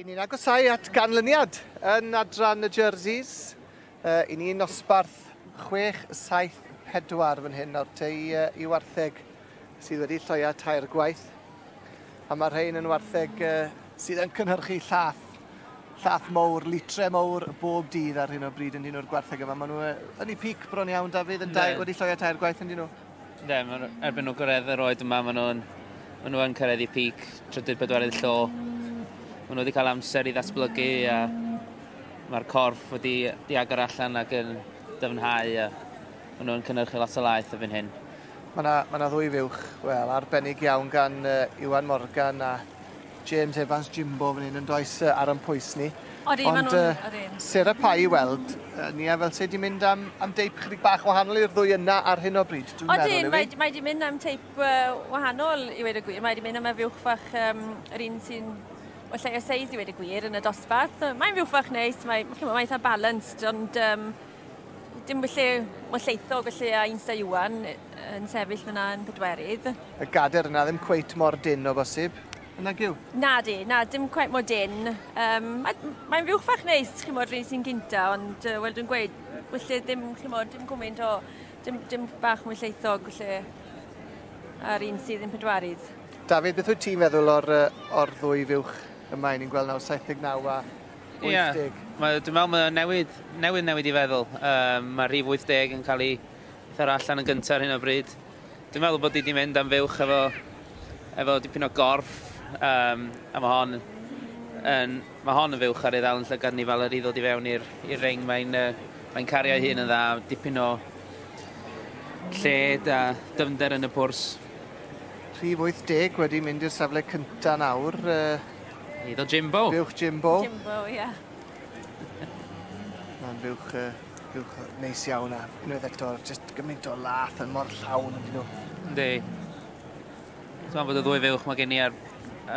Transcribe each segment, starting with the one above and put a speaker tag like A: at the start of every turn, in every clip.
A: I ni'n agosau at ganlyniad yn adran y jerseys. Uh, I ni'n osbarth 6-7-4 fan hyn o'r tei uh, i wartheg sydd wedi lloia tair gwaith. A mae'r rhain yn wartheg uh, sydd yn cynhyrchu llath llath mowr, litre mowr bob dydd ar hyn o bryd yn dyn nhw'r gwartheg yma. Maen nhw yn ei pic bron iawn, Dafydd, yn dau, wedi lloio tair gwaith yn dyn nhw. Ne,
B: erbyn nhw gyrraedd yr oed yma, maen nhw'n maen nhw yn cyrraedd ei pic, trydydd bedwaredd llo. Maen nhw wedi cael amser i ddatblygu a mae'r corff wedi i agor allan ac yn dyfnhau a maen nhw'n cynnyrchu lot o laeth y fyn hyn. Mae yna, mae yna ddwy
A: fuwch, wel, arbennig iawn gan uh, Iwan Morgan a James Evans Jimbo fan hyn yn does uh, ar yn pwys ni. Odi, Ond, uh, Sarah Pye i weld, uh, ni a fel se di mynd am, am deip chydig bach wahanol i'r ddwy yna ar hyn o bryd, dwi'n meddwl yw i. Mae, mae di
C: mynd am teip uh, wahanol i wedi gwir, mae di mynd am y fuwch fach um, yr un sy'n o lle o seis i wedi gwir yn y dosbarth. Mae'n fuwch fach neis, mae'n mae eitha balanced, ond um, Dim felly, mae'n lleithog felly a Insta Iwan yn sefyll fyna yn pedwerydd. Y gader yna
A: ddim cweit mor dyn o bosib. Yna gyw? Na di, na, dim
C: cweit mor dyn. Um, Mae'n mae rhywch fach neis, chi'n modd, rhywun sy'n gynta, ond uh, wel dwi'n gweud, felly ddim, chi'n modd, dim gwmynt o, dim, dim bach mwy lleithog, felly, a'r un sydd yn pedwerydd. David, beth wyt ti'n
A: feddwl o'r, o'r ddwy fuwch yma, ni'n gweld nawr 79 a Ie. 80. Mae, dwi'n meddwl
B: mae o'n newid, newydd newid i feddwl. Um, mae rhif 80 yn cael ei thyrra allan yn gyntaf ar hyn o bryd. Dwi'n meddwl bod i wedi mynd am fywch efo, efo dipyn o gorff, um, a mae hon yn, mae hon yn fywch ar ei ddal yn llygad ni fel yr i ddod i fewn i'r ring. Mae'n uh, mae cario ei hun yn dda, dipyn o lled a dyfnder yn y pwrs. Rhif
A: 80 wedi mynd i'r safle cyntaf nawr. Uh, Hyd o
B: Jimbo. Fuwch Jimbo. Jimbo, ie.
A: Yeah. Mae'n fuwch, uh, fuwch neis iawn a unwaith eto, just gymaint o lath yn mor llawn yn dyn nhw. Ynddi.
B: Ti'n bod y ddwy fuwch mae gen i ar,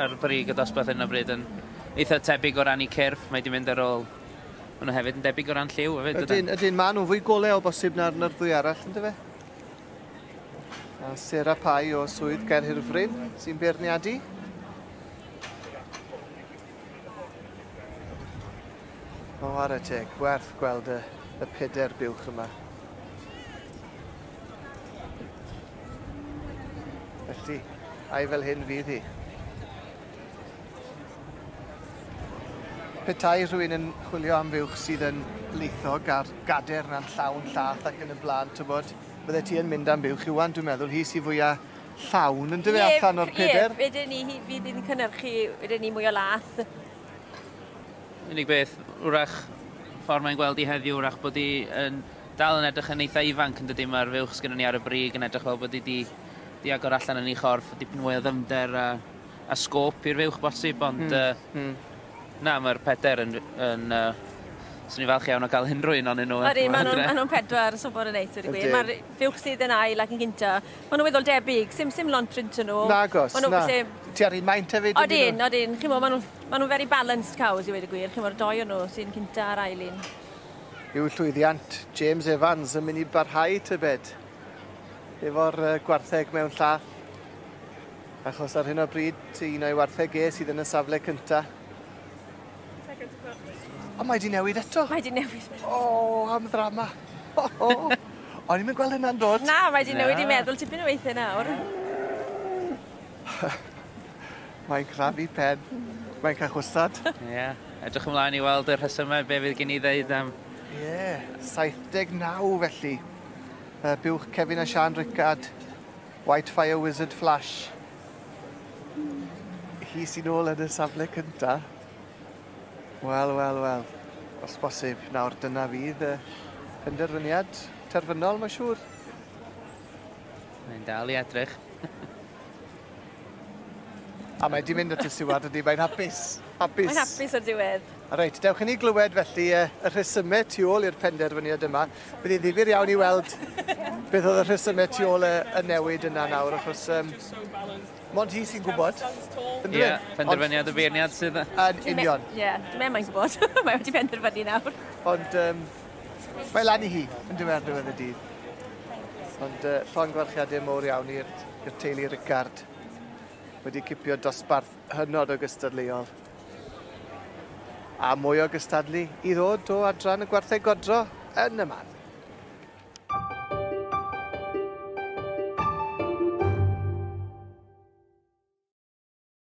B: ar brig y dosbarth hyn o bryd yn eitha tebyg o ran i cyrff, mae di mynd ar ôl Mae nhw hefyd yn debyg o ran lliw hefyd. Ydyn, ydyn, maen nhw'n fwy golew
A: o bosib na'r, na'r ddwy arall, ynddo fe? A Sarah Pye o Swydd Gaerhirfryn sy'n beirniadu. O, ar y teg, gwerth gweld y, y peder buwch yma. Felly, ai fel hyn fydd hi? Petai rhywun yn chwilio am fuwch sydd yn laethog a'r gader na'n llawn llath ac yn y bla'n t'wbod bydde ti yn mynd am buwch Iwan dwi'n meddwl hi sy fwya llawn yndyfe Ie, allan o'r peder? Ie, wedyn ni hi fydd yn
C: cynhyrchu wedyn ni mwy o lath.
B: Unig beth, wrach ffordd mae'n gweld i heddiw, wrach bod hi yn dal yn edrych yn eitha ifanc yn dydy, mae'r fuwch sgynnon ni ar y brig yn edrych fel bod hi di, di agor allan yn ei chorff, dipyn mwy o ddyfnder a a sgôp i'r fuwch bosib, ond mm. Uh, mm. na, mae'r peder yn, yn uh, Swn i'n falch iawn o gael unrhyw un o'n nhw. Ydy, maen nhw'n nhw pedwar
C: yn sobor yn neis, wedi gwir. Mae'r fuwch sydd yn ail ac yn gynta. Maen nhw'n weddol debyg, sim, sim lont print yn nhw. Na, gos, na.
A: Ti ar un maint hefyd? Odyn, odyn. Chi'n mo, maen
C: nhw'n ma nhw very balanced cows, i wedi gwir. Chi'n mo'r doi o'n nhw sy'n cynta ar ail un. Yw
A: llwyddiant James Evans yn mynd i barhau tybed? Efo'r uh, gwartheg mewn llath. Achos ar hyn o bryd, ti un o'i wartheg e sydd yn y safle cynta. O, mae di newid eto. Mae di newid. O,
C: oh, am ddrama.
A: O, oh, oh. O'n i'n gweld hynna'n dod. Na, mae di newid i meddwl
C: tipyn o weithiau nawr.
A: Mae'n crafu pen. Mae'n cael chwsad. Ie. Yeah. Edrych
B: ymlaen i weld y rhesymau be fydd gen i ddeud am... Ie, yeah.
A: 79 felly. Uh, buwch Kevin a Sian Rickard. White Fire Wizard Flash. Hi sy'n ôl yn y safle cynta. Wel, wel, wel. Os bosib, nawr dyna fydd y penderfyniad terfynol, mae'n siŵr. Mae'n
B: dal i edrych.
A: A mae di mynd at y siwad ydy, mae'n hapus. Hapus. Mae'n hapus
C: o'r diwedd. Reit, dewch i ni glywed
A: felly y rhesymau tu ôl i'r penderfyniad yma. Bydd hi'n ddifyr iawn i weld beth oedd y rhesymau tu ôl y, y newid yna nawr, achos um, mond hi sy'n gwybod. Ie, yeah,
B: penderfyniad y beirniad sydd... Yn union. Ie, yeah,
A: dwi'n meddwl mae'n gwybod.
C: mae wedi penderfynu nawr. Ond um,
A: mae lan i hi, yn dweud ar ddiwedd y dydd. Ond uh, llon gwarchiadau mowr iawn i'r teulu Ricard. Wedi cipio dosbarth hynod o gystadleuol. A mwy o gystadlu i ddod o adran y gwartheg godro yn y man.